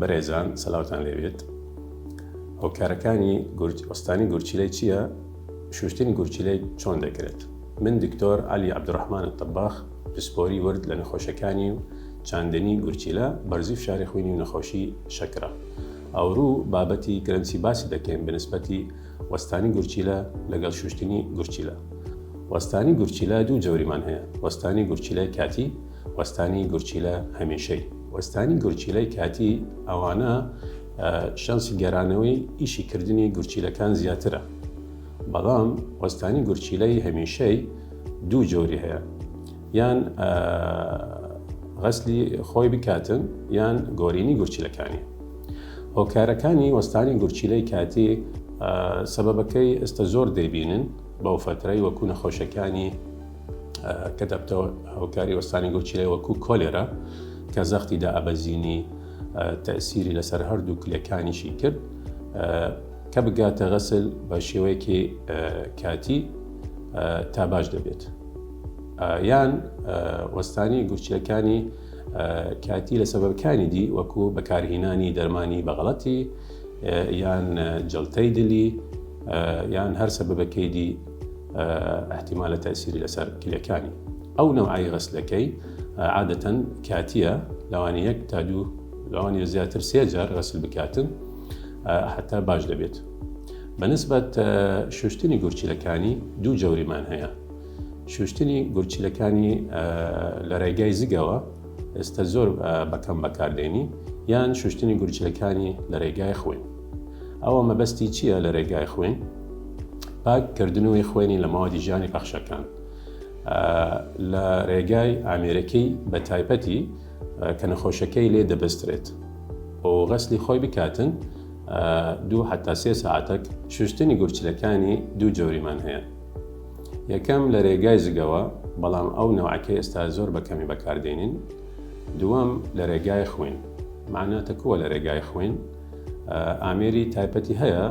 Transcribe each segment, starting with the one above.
بەرێزان سلاوتان لێبێت هۆکارەکانی گورج ئۆستانی گورچیلەی چییە شوشتنی گورچیلەی چۆن دەکرێت من دکتۆر علی عبدالرحمن تەباخ پسپۆری ورد لە نەخۆشەکانی و چاندنی گورچیلە بەرزی فشاری خوینی و نەخۆشی شەکرە ئەوروو بابەتی گرنچی باسی دەکەین بەنسبەتی وەستانی گورچیلە لەگەڵ شوشتنی گورچیلە وەستانی گورچیلە دوو جۆریمان هەیە وەستانی گورچیلەی کاتی وەستانی گورچیلە هەمیشەی وەستانی گورچیلەی کاتی ئەوانە شانسی گەرانەوەی ئیشی کردنی گورچیلەکان زیاترە بەڵام وەستانی گورچیلەی هەمیشەی دوو جۆری هەیە یان غەسلی خۆی بکاتن یان گۆرینی گورچیلەکانی هۆکارەکانی وەستانی گورچیلەی کاتی سەبەبەکەی ئێستا زۆر دەیبینن بەو فترەی وەکو نەخۆشەکانی کە دەبتەوە هۆکاری وەستانی گۆچیلە وەکو کۆلێرا کە زەختی دا ئەبەزینی تەسیری لەسەر هەردوو کلەکانیشی کرد کە بگاتە غەسل بە شێوەیەکی کاتی تا باش دەبێت یان وەستانی گورچیەکانی کاتی لە سەبەکانی دی وەکو بەکارهینانی دەرمانی بەغڵەتی یان جلتەی دلی یان هەر سەبەکەی دی ئەحتیمالە تەسیری لەسەر کلەکانی ئەو نەوعی غەسلەکەی عادەتەن کاتیە لەوانی یەک تا دوو لەوانی زیاتر سێجار غەسل بکاتن حتا باش دەبێت بەنسبەت شوشتنی گورچیلەکانی دوو جەوریمان هەیە شوشتنی گورچیلەکانی لە ڕێگای زگەوە ئێستا زۆر بەکەم بەکاردێنی یان شوشتنی گورچیلەکانی لە ڕێگای خوێن ئەوە مەبەستی چیە لە رێگای خوێن پاک کردنوی خوێنی لە ماوەتی ژیانی پەخشەکان لە رێگای ئامێرەکەی بە تایپەتی کە نەخۆشەکەی لێ دەبسترێت و غەسلی خۆی بکاتن دوو حتا سێ ساعتەک شوشتنی گورچلەکانی دوو جۆریمان هەیە یەکەم لە رێگای زگەوە بەڵام ئەو نەوەکەی ئێستا زۆر بەکەمی بەکاردێنین دووەم لە رێگای خوێن معناتە کووە لە رێگای خوێن ئامێری تایپەتی هەیە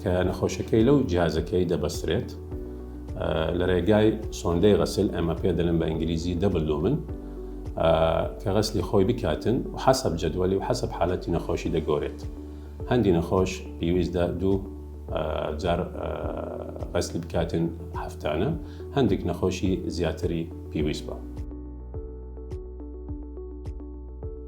کە نەخۆشەکەی لەو جیازەکەی دەبەسترێت لە ڕێگای سۆندەی غەسل ئەمە پێ دەلم بە ئینگلیزی دەبلو من کە غەسلی خۆی بکاتن و حەسب جدوەلی و حەسب حالەتی نەخۆشی دەگۆرێت هەندی نەخۆش پێویستدا دوو جار غەسلی بکاتن هەفتانە هەندێک نەخۆشی زیاتری پێویست بە.